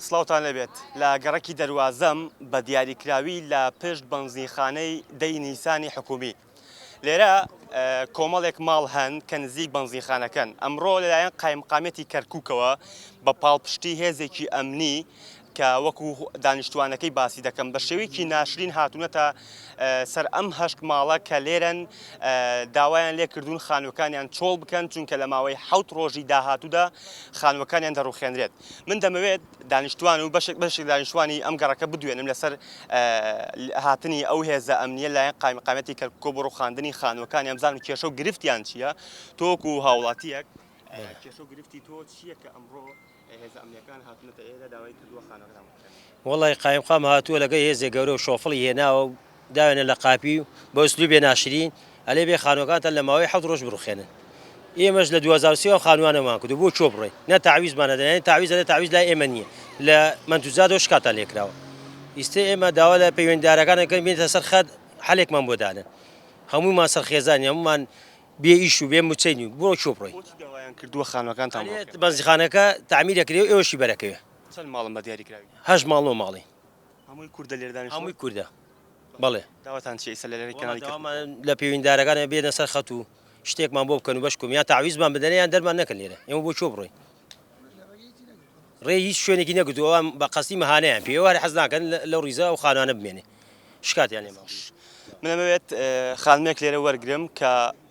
سڵاوتان لێبێت لە گەڕەکی دەروازەم بە دیاری کراوی لە پشت بەنزینخانەی دەی نیسانی حکومی لێرە کۆمەڵێک ماڵ هەن کە نزیک بەنزینخانەکەن ئەمڕۆ لەلایەن قایمقامەتی کەرکووکەوە بە پاڵپشتی هێزێکی ئەمنی کە وەکو دانیشتوانەکەی باسی دەکەم بە شێوەیەکی ناشرین هاتوونەتە سەر ئەم هەشت ماڵە کە لێرەن داوایان لێکردوون خانوەکانیان چۆڵ بکەن چونکە لە ماوەی حوت ڕۆژی داهاتوودا خانوەکانیان دەڕوخێنرێت من دەمەوێت دانیشتوان و بەشێک بەشێک دانیشتوانی ئەم گەڕەکە بدوێنم لەسەر هاتنی ئەو هێزە ئەمنیە لایەن قایمقامەتی کەرککۆ بۆ ڕوخاندنی خانوەکان ئەمزان و کێشە و گرفتیان چییە تۆک و هاوڵاتیەک کێشە و گرفتی تۆ چییە کە ئەمڕۆ هێزە ئەمنیەکان هاتنەتە ئێرە داوای کردووە خانەکان وڵی قایمقام هاتووە لەگە هێزێک گەورە و شۆفڵی هێناوە و داوێنە لە قاپی و بە ئسلوبێ ناشرین ئەلێ بێ خانوەکانتان لە ماوەی حەوت ڕۆژ بڕوخێنن ئێمەش لە دوو هەزار و سێ وە خانوانەمان کردو بۆ چۆ بڕۆین نە تەعویزمان هەدەن یانی تەعویز ئەلێ تەعویز لای ئێمە نیە لە مەنتوجاتەوە شکاتان لێ کراوە ئیستە ئێمە داوا لە پەیوەندیدارەکان ئەکەین بێنتە سەر خەت حەلێکمان بۆ دانن هەموومان سەرخێزانین هەموومان بێ ئیش و بێ موچەین و بۆ چۆ بڕۆین بۆچی داوایان کردووە خانوەکانتان بڕوخێنن بەنزیخانەکە تەعمیر ئەکرێ و ئێوەشی بەرەکەوێ چەند ماڵن بە دیاری کراوی؟ هەشت ماڵ نۆ ماڵین. هەمووی کوردە لێرە دانیشتووە؟ هەمووی کوردە بەڵێ. داواتان چیە ئیستا لە لایەن کەناڵی کەرکوک؟ وەڵا داوامان لە پەیوندارەکانە بێنە سەر خەت و شتێکمان بۆ بکەن و بەش کۆم یان تەعویزمان بدەنێ یان دەرمان نەکەن لێرە ئێمە بۆ کوێ بڕۆین ڕێ هیچ شوێنێکی نەگرتووە ئەم بە قەستی مەهانەیان پێ ئێوارە حەز ناکەن لەو ڕیزە ئەو خانانە بمێنێ شکاتیان لێمان من ئەمەوێت خانمێک لێرە وەرگرم کە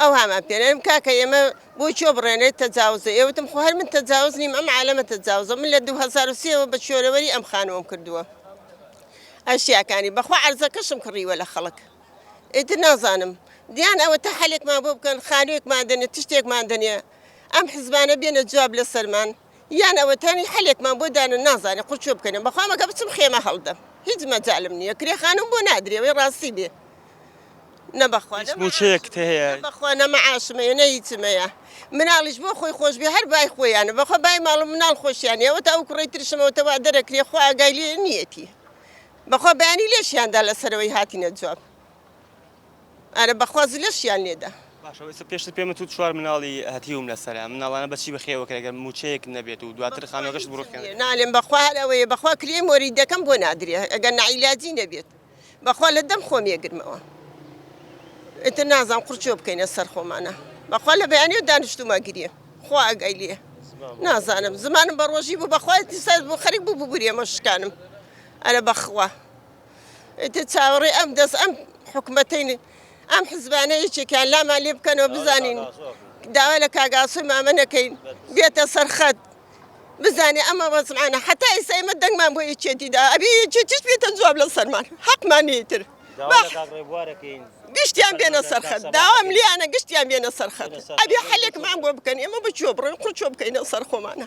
ئەوهامان پێ نەرم کاکە ئێمە بۆ چۆ بڕێنێت تەجاوزە ئێوتم خۆ هەر من تەجاوز نیم ئەم عالەمە تەجاوزە من لە 2023ەوە بە چۆرەوەری ئەم خانووەم کردووە ئەشیاکانی بەخوا عەرزەکەشم کڕیوە لە خەڵک ئیتر نازانم دیان ئەوە تا حەلێکمان بۆ بکەن خانوێکمان دەنێ تشتێکمان دەنێ ئەم حزبانە بێنە جواب لەسەرمان یان ئەوە تامی حەلێکمان بۆ دانە نازانێ قوچۆ بکەنێ بەخوام ئەگە بچم خێمە هەڵدەم هیچ مەجالم نییە کرێ خانم بۆ نادرێ وەی ڕاستی بێ نەبەخوا نەمەعاشمەیە نە هیچمەیە مناڵیش بۆ خۆی خۆش بێ هەر بای خۆیانە بەخوا بای ماڵ و مناڵ خۆشیان ئەوە تا ئەو کوڕی ترشمەوەتەوە دەرەکرێ خوا ئەگای لێ نیەتی بەخوا بەیانی لێشیاندا لەسەرەوەی هاتینە جواب ئەرە بەخوا زلەشیان لێدە. باشە وەی سە پێشتر پێمت وت چوار مناڵی هەتیوم لەسەرە ئەم مناڵانە بەچی بەخێو ئەکرێ گەر موچەیەکت نەبێت و دواتر خانوەکەشت بڕوخێنرێ. نالێم بەخوا هەر ئەوەیە بەخوا کرێی مۆریدەکەم بۆ نادرێ ئەگەر نەعیلاجی نەبێت بەخوا لە دەم خۆم یەگرمەوە ئیتر نازانم قڕچۆ بکەینە سەر خۆمانە بەخوا لە بەیانێو دانشتومە گرێ خوا ئەگای لێ نازانم زمانم بە ڕۆژی بوو بەخوا ئیتر سەر بۆ خەریک بوو ببورێمە شکانم ئەرە بەخوا. ئیتر چاوەڕێی ئەم دەست ئەم حکومەتین ئەم حزبانە یەکێکیان لامان لێ بکەنەوە بزانین داوا لە کاگاسوی مامە نەکەین بێتە سەرخەت بزانێ ئەمە وەزمانە حتا ئێستا ئمە دەنگمان بۆ یەکێتیدا ئەبێ یەکێتیش بێتە جواب لە سەرمان حەقمان نیتر گشتیان بێنە سەرخەت داوام لیانە گشتیان بێنە سەرخەت ئەبێ حلێکمان بۆ بکەن ئێمە بچۆ بڕێن قوچۆ بکەینە سەر خۆمانە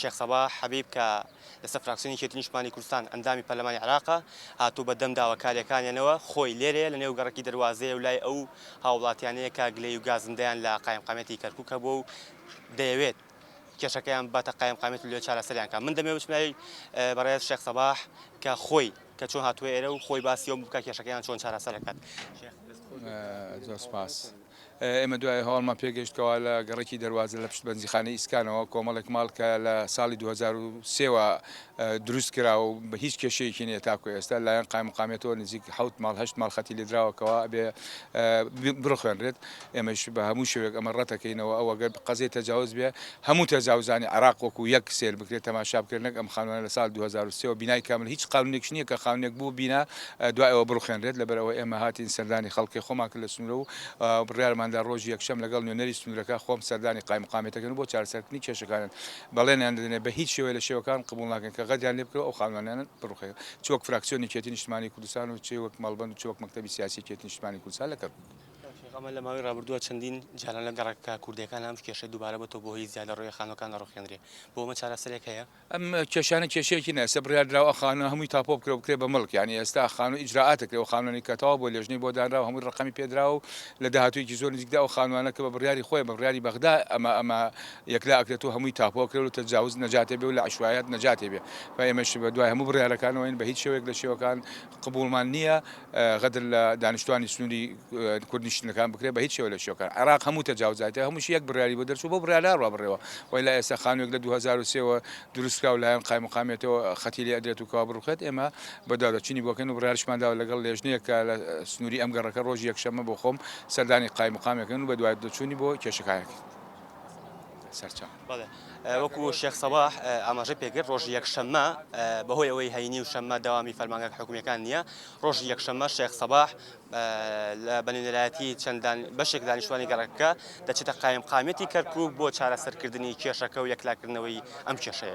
شێخ سەباح حەبیب کە لەسەر فراکسیۆنی یەکێتی نیشتمانی کوردستان ئەندامی پەرلەمانی عێراقە، هاتووە بە دەم داواکارییەکانیانەوە، خۆی لێرەیە لە نێو گەڕەکی دەروازەیە و لای ئەو هاووڵاتییانەیە کە گلەیی و گازندەیان لە قایمقامیەتی کەرکووک هەبووە و دەیەوێت کێشەکەیان بباتە قایمقامیەت و لەوێ چارەسەریان بکات. من دەمەوێت بچمە لای بەڕێز شێخ سەباح کە خۆی کە چۆن هاتووە ئێرە و خۆی باسی ئەوە بکات کێشەکەیان چۆن چارەسەر ئەکات. شێخ دەست خۆش بێت. زۆر سپاس. ئێمە دوای هەواڵمان پێگەیشت کەوا لە گەڕەکی دەروازە لە پشت بەنزیخانەی ئیسکانەوە کۆمەڵێک ماڵ کە لە ساڵی دوو هەزار و سێ وە دروست کراوە و بە هیچ کێشەیەکی نیە تاکو ئێستا لایەن قایمقامیەتەوە نزیک حەوت ماڵ هەشت ماڵ خەتی لێدراوە کەوا ئەبێ بڕخوێنرێت ئێمەش بە هەموو شێوەیەک ئەمە ڕەتەکەینەوە ئەو ئەگەر قەزیە تەجاوز بێ هەموو تەجاوزانی عێراق وەکو یەک سەیر بکرێت تەماشا بکرێت نەک ئەم خانوانە لە ساڵی دوو هەزار و سێ وە بینای کامل هیچ قانونێکیش نیە کە خانونێک بوو بینا دوای ئەوە بڕوخێنرێت لەبەر ئەوە ئێمە هاتین سەردانی خەڵکێ خۆمان کرد لە سنورە و بڕیارمان دا ڕۆژی یەکشەم لەگەڵ نوێنەری سنورەکە خۆم سەردانی قایمقامیەتەکەن و بۆ چارەسەرکردنی کێشەکانن بەڵێنیان دەدەنێ بە هیچ شێوەیە لە شێوەکان قبوڵ ناکەین کە غەدریان لێ بکرێ ئەو خانوانانە بڕوخێن چ وەک فراکسیۆنی کێتی نیشتمانی کوردستان و چ وەک مەڵبەند و چ وەک مەکتەبی سیاسی کێتی نیشتمانی کوردستان لە کەرکوک. ئەمە لە ماوەی ڕابردووە چەندین جاران لە گەڕەکە کوردیەکان ئەم کێشەی دووبارە بۆتەوە بۆ هۆی زیادە ڕۆیە خانوەکان دەڕوخێنرێ بۆ ئەمە چارەسەرێک هەیە؟ ئەم کێشانە کێشەیەکی نیە ئێستا بڕیاردراوە ئە خانوە هەمووی تاپۆ بکرێ و بکرێ بە مڵک یانی ئێستا خانوە ئیجرائاتە کرێ و خانوەنی کە تەواو بووە لێژنەی بۆ دانراوە هەمووی ڕەقەمی پێ دراوە و لە داهاتوویەکی زۆر نزیکدا ئەو خانوانە کە بە بڕیاری خۆیان بە بڕیاری بەغدا ئەمە ئەمە یەکلا ئەکرێت و هەمووی تاپۆ ئەکرێ و لە تەجاوز نەجاتێ بێ و لە عەشوایەت نەجاتێ بێ و ئێمەش بە دوای هەموو بڕیارەکانەوەین بە هیچ شێوەیەک لە شێوەکان قبوڵمان نییە غەدر لە دانیشتوانی سنووری کورد نیشتنەکان بکرێت بەهیچ شێوە لە شێوەکان عێراق هەموو تەجاوزاتە هەمووشی یەک بڕیاری بۆ دەرچوو بەو بڕیارە ڕابڕێوە وەیلا ئێستا خانووێک لە دوو هەزار و سێ وە دروستکراو لەلایەن قایمقامیەتەوە خەتی لێ ئەدرێت و کەوا بڕوخێت ئێمە بەدواداچوونی بۆکەین و بڕیارشمان داوە لەگەڵ لێژنەیەک کە لە سنووری ئەم گەڕەکە ڕۆژی یەکشەممە بۆ خۆم سەردانی قایمقامیەکەن و بەدواداچوونی بۆ کێشەکانەکەین سەرچاوە. بەڵێ وەکو شێخ سەباح ئاماژەی پێکرد ڕۆژی یەکشەممە بەهۆی ئەوەی هەینی و شەممە داوامی فەرمانگە حکومیەکان نییە ڕۆژی یەکشەممە شێخ سەباح لە بەنێنەرایەتی چەندان بەشێک دانیشتوانی گەڕەکە دەچێتە قایم قامەتی کەرکک بۆ چارەسەرکردنی کێشەکە و یەکلاکردنەوەی ئەم کێشەیە.